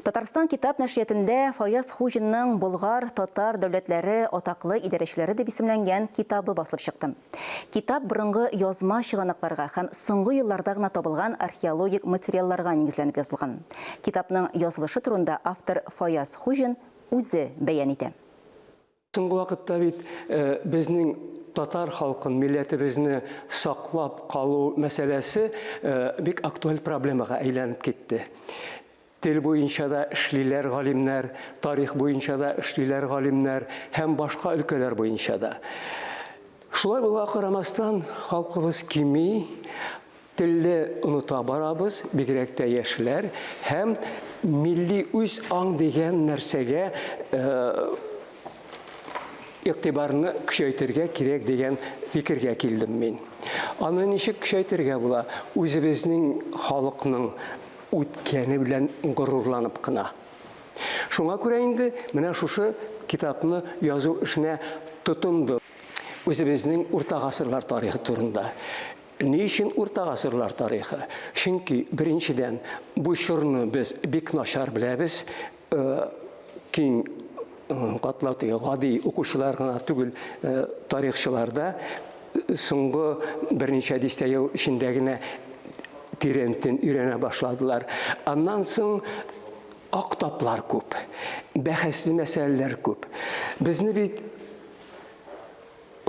Татарстан китап нәшриятендә Фаяз Хуҗинның Болгар, татар дәүләтләре, атаклы идарәчеләре дип исемләнгән китабы басылып чыкты. Китап борынгы язма чыганакларга һәм соңгы елларда гына табылган археологик материалларга нигезләнеп язылган. Китапның язылышы турында автор Фаяз Хуҗин үзе бәян итә. Соңгы вакытта бит безнең татар халкын, милләтебезне саклап калу мәсьәләсе бик актуаль проблемага әйләнеп китте. Тел буенча да эшлиләр галимнәр, тарих буенча да эшлиләр галимнәр һәм башка өлкәләр буенча да. Шулай булга карамастан, халкыбыз кими, Телне оныта барабыз, бигрәк тә яшьләр, һәм милли үз аң дигән нәрсәгә игътибарны көчәйтергә кирәк дигән фикергә килдем мин. Аны ничек көчәйтергә була? Үзебезнең халыкның үткәне белән горурланып кына. Шуңа күрә инде менә шушы китапны язу эшенә тотындым. Үзебезнең урта гасырлар тарихы турында. Ни өчен урта гасырлар тарихы? Чөнки, беренчедән, бу чорны без бик начар беләбез, киң катлау теге гади укучылар гына түгел, тарихчылар да соңгы берничә дистә ел эчендә генә тирәнтен өйрәнә башладылар. Аннан соң ак таплар күп, бәхәсле мәсьәләләр күп. Безне бит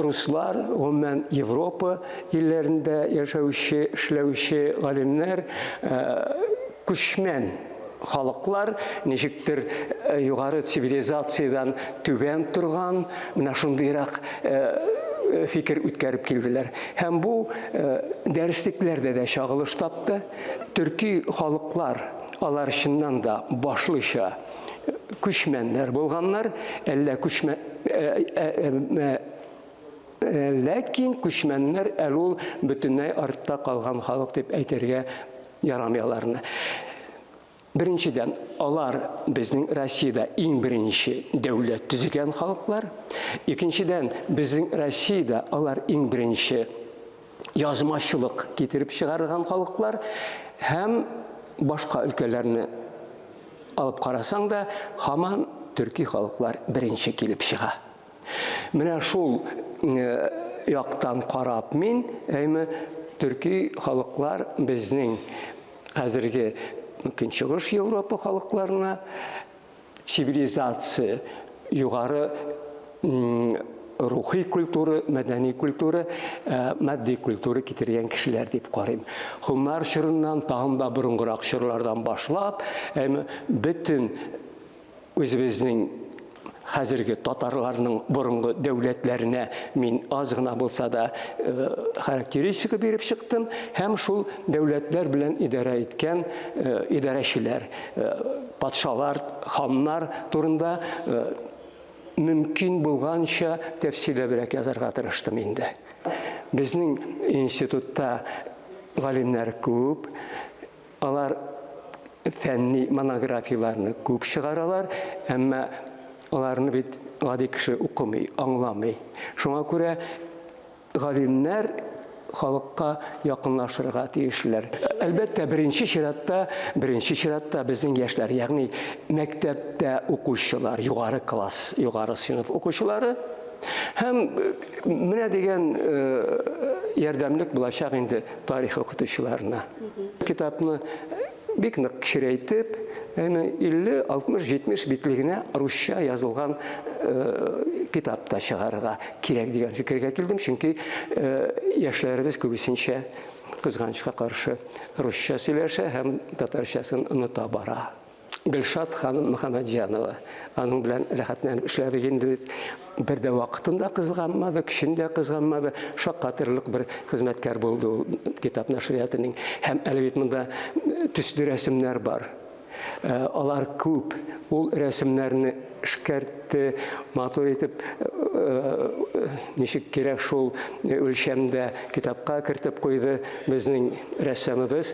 Руслар, гомумән, Европа илләрендә яшәүче, эшләүче галимнәр, күчмән халыклар, ничектер югары цивилизациядән түбән торган, менә шундыйрак фикер үткәреп килделәр. Һәм бу дәреслекләрдә дә чагылыш тапты. Төрки халыклар, алар чыннан да башлыча, күчмәннәр булганнар, әллә күчмә ләкин күчмәннәр әле ул бөтенләй артта калган халык дип әйтергә ярамый аларны. Беренчедән, алар безнең Россиядә иң беренче дәүләт төзегән халыклар. Икенчедән, безнең Россиядә алар иң беренче язмачылык китереп чыгарган халыклар һәм башка өлкәләрне алып карасаң да, һаман төрки халыклар беренче килеп чыга. Менә шул яктан карап мин, әйме, төрки халыклар безнең хәзерге Көнчыгыш Европа халыкларына цивилизация, югары рухи культура, мәдәни культура, матди культура китергән кешеләр дип карыйм. Хуннар чорыннан, тагын да борынгырак чорлардан башлап, бөтен үзебезнең хәзерге татарларның борынгы дәүләтләренә мин аз гына булса да характеристика биреп чыктым һәм шул дәүләтләр белән идарә иткән идарәчеләр Э, патшалар, ханнар турында э, мөмкин булганча тәфсиләбрәк язарга тырыштым инде. Безнең институтта галимнәр күп, алар фәнни монографияләрне күп чыгаралар, әмма аларны бит гади кеше укымый, аңламый. Шуңа күрә Галимнәр халыкка якынлашырга тиешләр. Әлбәттә, беренче чиратта, беренче чиратта безнең яшьләр, ягъни мәктәптә укучылар, югары класс, югары сыйныф укучылары һәм менә дигән ярдәмлек булачак инде тарих укытучыларына. Китапны Бик нык кечерәйтеп, әмма 50, 60, 70 битле генә русча язылган китап та чыгарырга кирәк дигән фикергә килдем, чөнки яшьләребез күбесенчә кызганычка каршы русча сөйләшә һәм татарчасын оныта бара. Гөлшат ханым Мөхәммәтҗанова, аның белән рәхәтләнеп эшләдек инде без. Бер дә вакытын да кызганмады, көчен дә кызганмады. Шаккатырлык бер хезмәткәр булды ул китап нәшриятының. Һәм әле бит монда төсле рәсемнәр бар. Э, алар күп. Ул рәсемнәрне эшкәртте, матур итеп э, ничек кирәк шул үлчәмдә китапка кертеп куйды безнең рәссамыбыз.